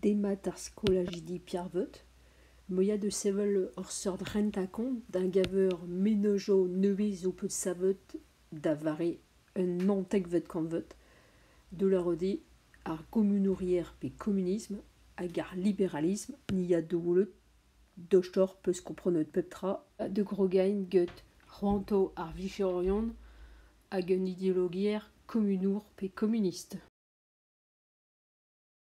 Demat ar skolajidi Pierrevot, moia da sevel ur seurt rentañ-kont da-geñver menezioù nevez zo bet savet da vare un naontekvet kantved da lavarout eo ar gomunouriezh pe komunism hag ar liberalism ne ya da welout dostoc'h peus komprenet pep tra da grogain get c'hoantoù ar vicherourion hag un ideologiezh komunour pe komunist.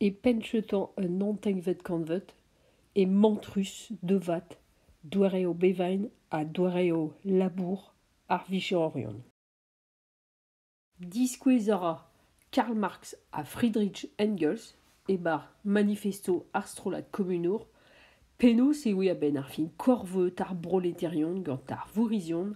e pennjeutañ un hantenkvet kantved e mantrus devat doareoù bevain ha doareoù labour ar vicheorion. Diskouez a ra Karl Marx ha Friedrich Engels e-bar manifesto ar strollad komunour penaos e oe a-benn ar fin korveud ar broleterion gant ar vourrizion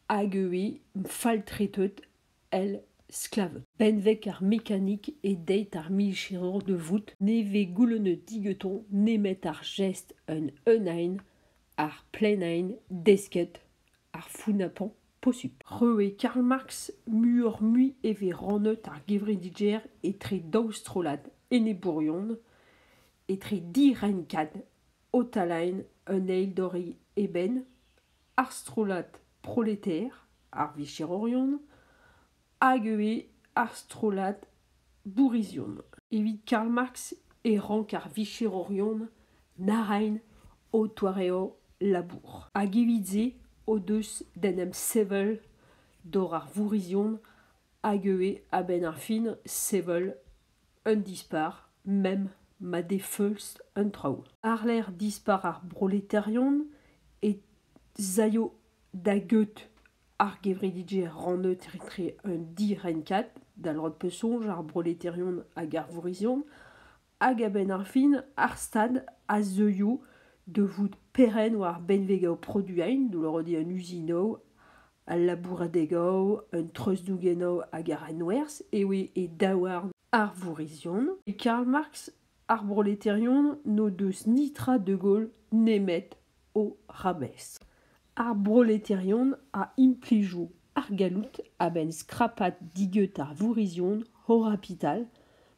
hag e oe faltreteut Elle, sklav benveg ar mekanik e deit ar micherour da vout ne vez goulennet digantañ nemet ar jest un eeunaén, ar plaenaén desket, ar founapañ posupl. Roue Karl Marx muioc'h-mui e vez rannet ar gevredigezh etre daou strollad enebourion, etre direnkad Otalaen un eil dori eben, ar strollad proleter, ar vicherourion, hag ivez ar strollad bourrizion. Evit Karl Marx e rank ar vicherourion narain o doareoù labour. Hag evit se o deus d'en em sevel dor ar vourrizion hag ivez a-benn ar fin sevel un dispac'h, mem ma defeulz an traoù. Àr-lerc'h dispac'h ar broleterion e z'aio da get ar gevredigezh ranneuet etre un direnkad, da lod pe soñj, ar broleterion hag ar vourrizion, hag a-benn ar fin ar Stad a zeuio da vout perenn war benveg o produañ, douloridi an usinoù al labouradeg-ao, un treuzdougenn-ao hag ar enwerzh eo e daouarn ar vourrizion. E Karl Marx, ar broleterion n'o deus ni tra de Gaulle nemet o ramez. Ar broleterion a implijo ar galloud a-benn skrapat digeut ar vourrizion o rapital,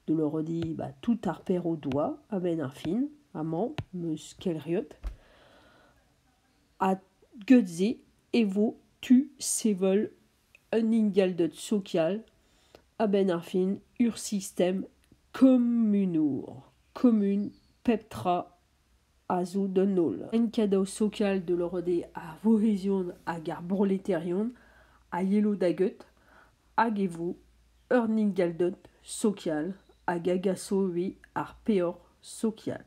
de leur dire bah, tout ar per o doa a-benn ar fin, amañ 'm eus kelriot. a get-se e vo tu sevel un ingelded sokial a-benn ar fin ur sistem komunour komun pep tra a zo d'an holl en kadav sokial da loc'hidi ar vouezhion hag ar broletarion a yelo da get hag e vo un ingelded sokial hag a gaso ivez ar peoc'h sokial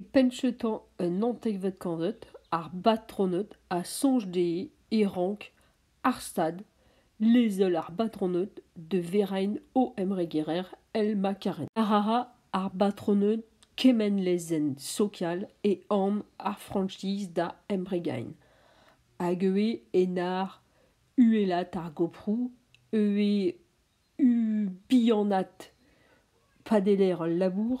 E penn-cheutañ un hantevet kantved, ar batroned a soñj dezhe e rank ar Stad lezel ar batroned da veraén o emregerer El-Makarin. A ra ar batroned kement lezenn sokial e anv ar Frankiz da embregaén, hag ivez en ur uhelaat ar goproù, ivez Bihanat padeler al labour.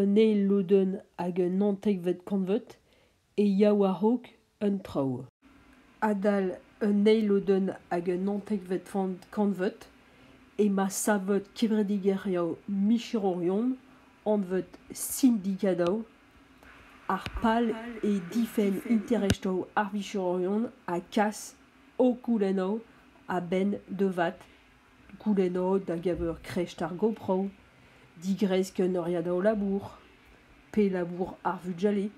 un eil lodenn hag un antekvet kantved e ya war-raok un traoù adal un eil lodenn hag un antekvet kantved emañ savet kevredigezhioù micherourion anvet sindikatoù ar pal eo difenn interestoù ar vicherourion ha kas o goulennoù a-benn da vat goulennot a-geñver kresk ar GoPro, digresk un oriadao labour, pe labour ar vugale.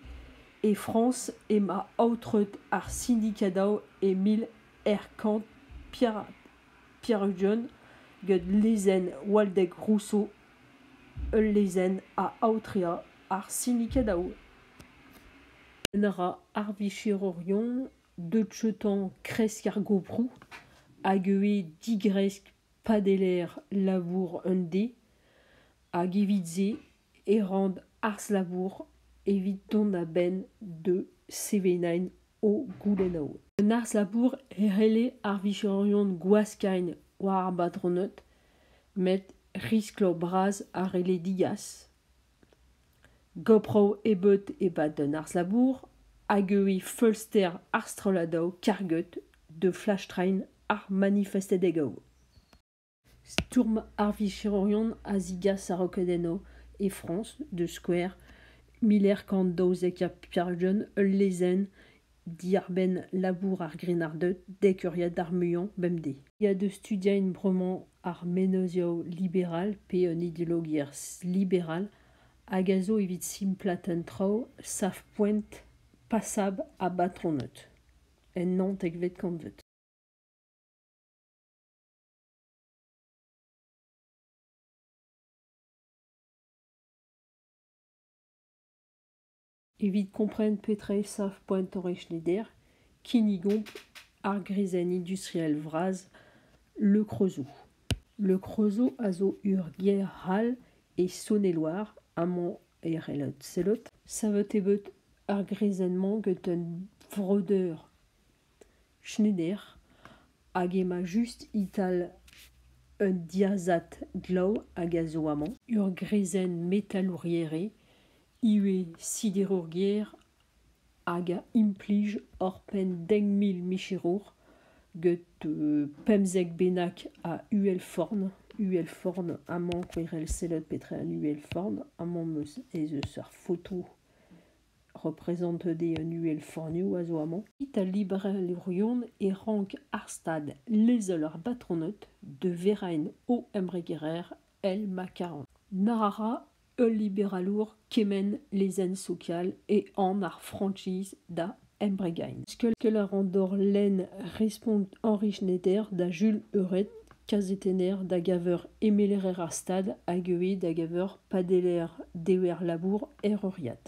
E Frañs emañ aotret ar sindikadao e mil eizh kant pevar-ugent gant lezenn Waldek Rousseau. Ul lezenn a aotre ar sindikadao. Un a ra ar vicherourion deut joutañ kresk ar goproù hag ivez digresk padelaer labour un dez hag evit-se e ran arz-labour evit dont a-benn da sevenañ o goulennoù. Un arz-labour e c'helle ar vijorion gwaskañ war ar batroned met riskloù bras a c'helle degas. Goproù ebeut e-pad an arz-labour hag euiñ feulster ar strolladoù karget da flastrein ar manifestadegoù. Stourm ar vicherourion a zigas a-raok enno e Frañs, da skouer, mil eizh kant daouzek ha pevar-ugent ul lezenn Diàr-benn labour ar grennarded dek euriad ar muiañ bemdez. Ya da studiañ bremañ ar menozioù liberal pe un ideologiezh liberal hag a zo evit simplaat an traoù savpoent pasabl ha batroned en naontekvet kantved. Evit kompren petra eo sav poentoc'h Schneider, kinnigomp ar greizenn industriel vras Le Creusot. Le Creusot a zo ur gêr c'hall e Saône-et-Loire, amañ e c'hellot sellout. Savet eo bet ar greizenn-mañ gant un vreudeur Schneider hag emañ just e-tal un diazad glav hag a zo amañ. Ur greizenn metalourier eo, ivez siderourier hag a implij oc'hpenn dek mil micherour get pemzek bennak a uhelforn. Uhelforn amañ, kouerel sellet petra eo an uhelforn. Amañ 'm eus ez eus ur foto represantet eo an uhelfannioù a zo amañ. Italibrezh-Lirion e rank ar stad lezel ar batroned de Verain o embregerezh El Macaron. Na ra ul liberalour kement lezenn sokial e an ar franchise da embregain. Skol a ran dor lenn respont Henri Schneider da Jules Euret kazetenner da geñver emeler ar stad hag ivez da geñver padeller dever-labour er euriad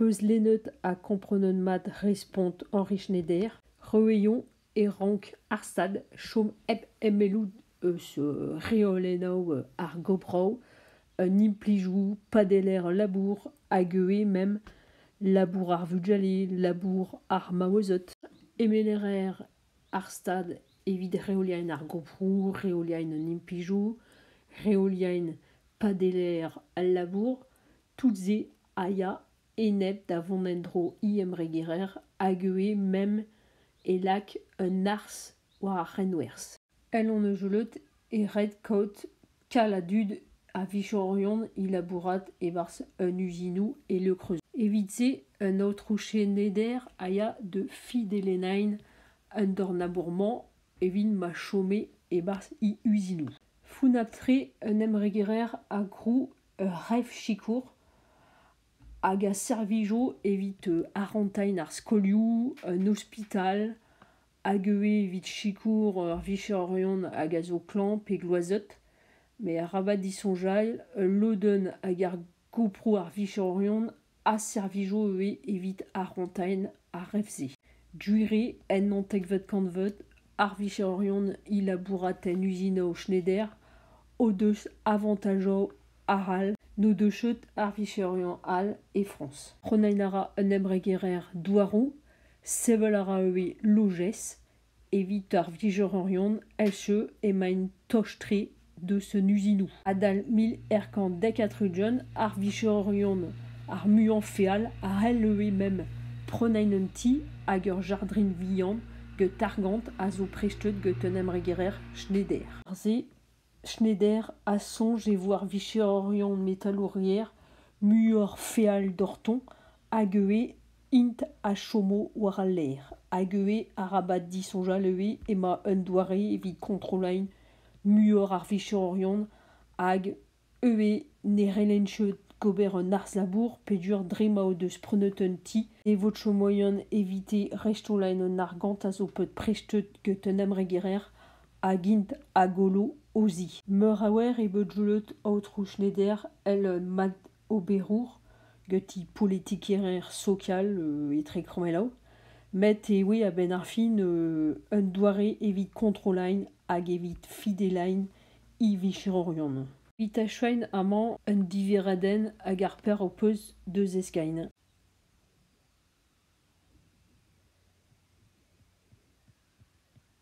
Peuzlennet ha komprenet mat respont Henri Schneider, Rouillon e rank ar Stad chom hep emellout eus reolennoù ar goproù, an implijoù padeller labour hag ivez mem labour ar vugale, labour ar maouezed. Emeller ar stad evit reoliaén ar goproù, reoliaén an implijoù, reoliaén padelaer al labour. Tout-se a ya enep da vont en-dro e-embregerer hag ivez meme e lak un arz war ar c'henwerzh. El hon eus gellet e red kaout Tal a dud a vichorion o labourat e-barzh un uzinoù e Lekreu. Evit-se, un aotrou cheneder a ya da Fidelennain un dorn-labour-mañ evit ma chome e-barzh he uzinoù. Funab-tre, un embregerer, a grou ur revsikour hag a servijo evit arantailh ar skolioù, un ospital, hag ivez evit sikour ur vicheurion hag a zo klañv pe gloazet. Met arabat disoñjal, ul lodenn ag ar goproù ar vicheurion a servijo ivez evit ar c'hoantaén ar rev-se. Gwir ennañ tekvet kantved ar vicheurion é labourat en uzinaoù Schneider o deus avantajoù arall n'o deus chomet ar vicheurion all e Frañs. C'hoant a ra un embregerezh douaroù Sevel a ra ivez lojez. Evit ar vlijorerion elcheu emaint toch-tre deus an uzinoù. Adal mil eizh kant dek ha tri-ugent, ar vlijorerion ar muiañ feal a c'hell ivez mem prenañ un ti hag ur jardrin vihan gant argant a zo prestet gant un embregerezh Schneider. Se Schneider a soñj e vo ar vicheorion metalourier muioc'h feal doc'htoñ hag ivez int a chomo war al lec'h hag ivez arabat disoñjal ivez emañ un doare evit kontrolañ muioc'h ar vicheorion hag ivez ne c'hellent ket ober un arz-labour peogwir dre ma o deus prenet un ti e vo tro moan evite restaolañ an argant a zo bet prestet get un embregerezh hag int a gollo o zi. Meur a oer eo bet julet Aotrou Schneider el mad oberour geti politikerezh sokial etre Kromelav met eo a-benn ar fin un doare evit kontrolañ hag evit fidelañ e vicherourion. Evit achuiñ amañ un diverradenn ag ar peur ho peus da zeskiñ.